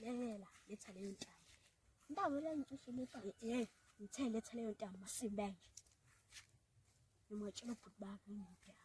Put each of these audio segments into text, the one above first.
Lelela letha leyo ntaba. Ntaba le ngicishe letha. Eh, ngithe letha leyo ntaba masimbe nje. Ngimwatshela ubhuti bakhe ngidaba.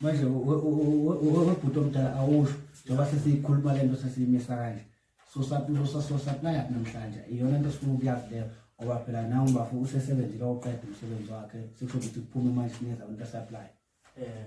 manje webhuti omdala awusho njengoba sesiyikhuluma le nto sesiyimisa kanje sosaplaya namhlanje iyona nto sifuna ukuyazi leyo ngoba phela nawe umbafo usesebenzile oqeda umsebenzi wakhe sikusho ukuthi kuphume manje sinikeza abantu asaplaya um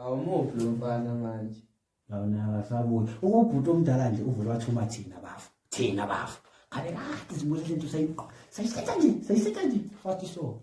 awumuvi lo mfana manje lawona akasabuyi ukubhuti omdala nje uvele wathuma thina bafo thina bafo kale kade sibulela into sayiqo sayisetha nje sayisetha nje wathi so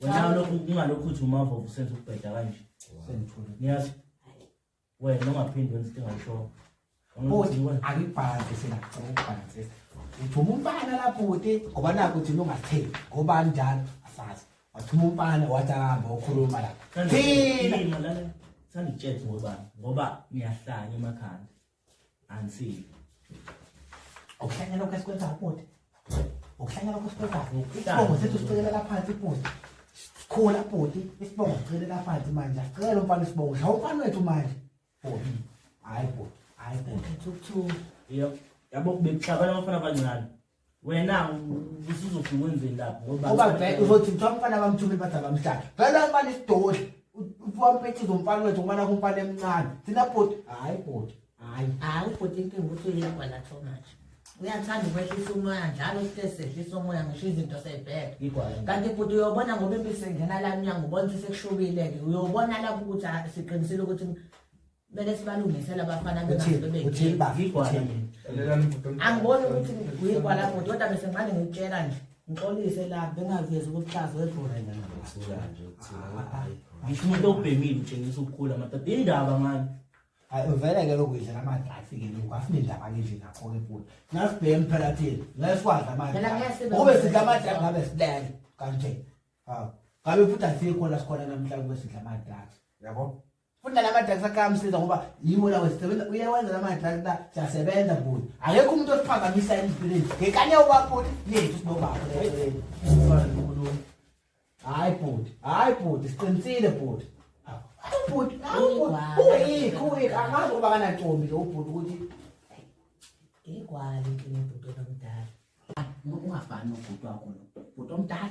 wena lokhu kungalokhu uthi umava usenza ukubheda kanje sengithule ngiyazi wena ungaphindi wenza into engayishoko bhuti angibhanze sengacela ukubhanze uthuma umfana la bhuti ngoba naku uthi ungatheli ngoba njalo asazi wathuma umfana wathi ahamba ukhuluma la thina sanditshele ngoba ngoba ngiyahlanya emakhanda Ansi. Okuhlanya lokho esikwenzayo bhuti. Okuhlanya lokho esikwenzayo. Isibongo sethu sicekelela phansi bhuti. Sikhula bhuti, isibongo sicekelela phansi manje. Sicela umfana isibongo. Shawu umfana wethu manje. Bhuti. Hayi bhuti. Hayi bhuti. Thukuthu. Yebo. Yabo bekuhlabana abafana abancane. wena usuzothi wenzeni lapho ngoba uba vele uzothi mthiwa umfana abamthumile bathi abamhlala vele umfana isidodla uwampethiza umfana wethu umfana kumfana emncane thina bhoti hhayi bhoti hhayi hhayi ubhoti inkinga ukuthi uyekwa la so much uyathanda ukwehlisa umoya njalo site sehlisa umoya ngisho izinto seyibheka kanti bhuti uyobona ngoba impisi engena la mnyango ubona sesekushubile-ke uyobona lapho ukuthi siqinisile ukuthi kumele sibalungise labafana angiboni ukuthi uyigwala futhi kodwa bese ngimane ngikutshela nje ngixolise la bengavezi ukuhlaza wedlorangisho umuntu obhemile utshengisa ukukhula madoda indaba ngani hayi uvele ke lokuyidla namadlasi ke lokhu asinendaba ngendle nakho-ke futhi nasibheke phela thina ngeke sikwazi amadlaukube sidla amadlasi ngabe silele kanje hawu ngabe futhi asikho la sikhona namhlanje kube sidla amadlasi yabo futhi nalamadrugs akamsiza ngoba yiwo lawo sisebenza uyawenza lamadrugs la siyasebenza bhuti akekho umuntu osiphazamisa empilweni ngekanye ubabhuti yethu sinobaba hayi bhuti hayi bhuti siqinisile bhuti ubhuti uyikho uyikho angazi ukuba kanantombi lo ubhuti ukuthi ngigwale into nobhuti omdala ungafani nobhuti wakho lo bhuti omdala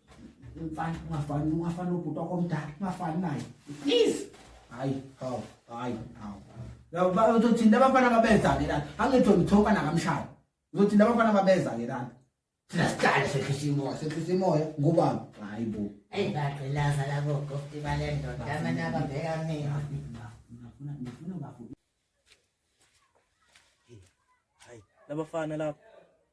mfana ungafani ungafani nobhuti wakho omdala ungafani naye please hayi hawu hayi hawu uzothinta abafana babeza-ke lana angithi ngithoka nakamshaya uzothinta abafana ababeza-ke lana thina sihlale sehlisa imoya sehlisa imoya ngubani hayi bo eyi bagqilaza labo gofti bale ndoda amane ababheka mina labafana lapho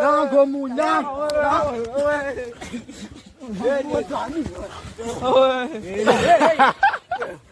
Nango mu nang. Oi.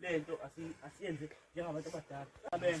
lento asiyenze njengabantu abadala amen